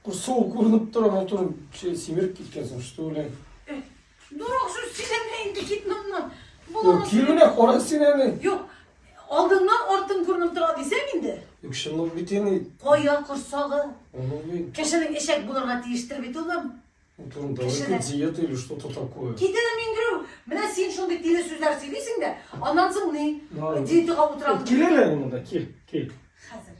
Курсуы күренеп тора, матурым şey, симереп киткән соң, что ли? Дурак, сүз сөйләмә инде, кит моннан. Юк, килмә, кара син әле. Юк, алдыңнан артың күренеп тора дисәң инде. Юк, шынлык бит ени. Кая корсагы? Аны бит. Кешенең эчәк булырга тиештер бит улым. Утром давай Кешеләр. диета или что-то такое. Китәле мин гөрү. Менә син шундый тиле сүзләр сөйлисең дә, аннан соң ни? Диетага утырам. Кил әле монда, кил, кил. Хәзер.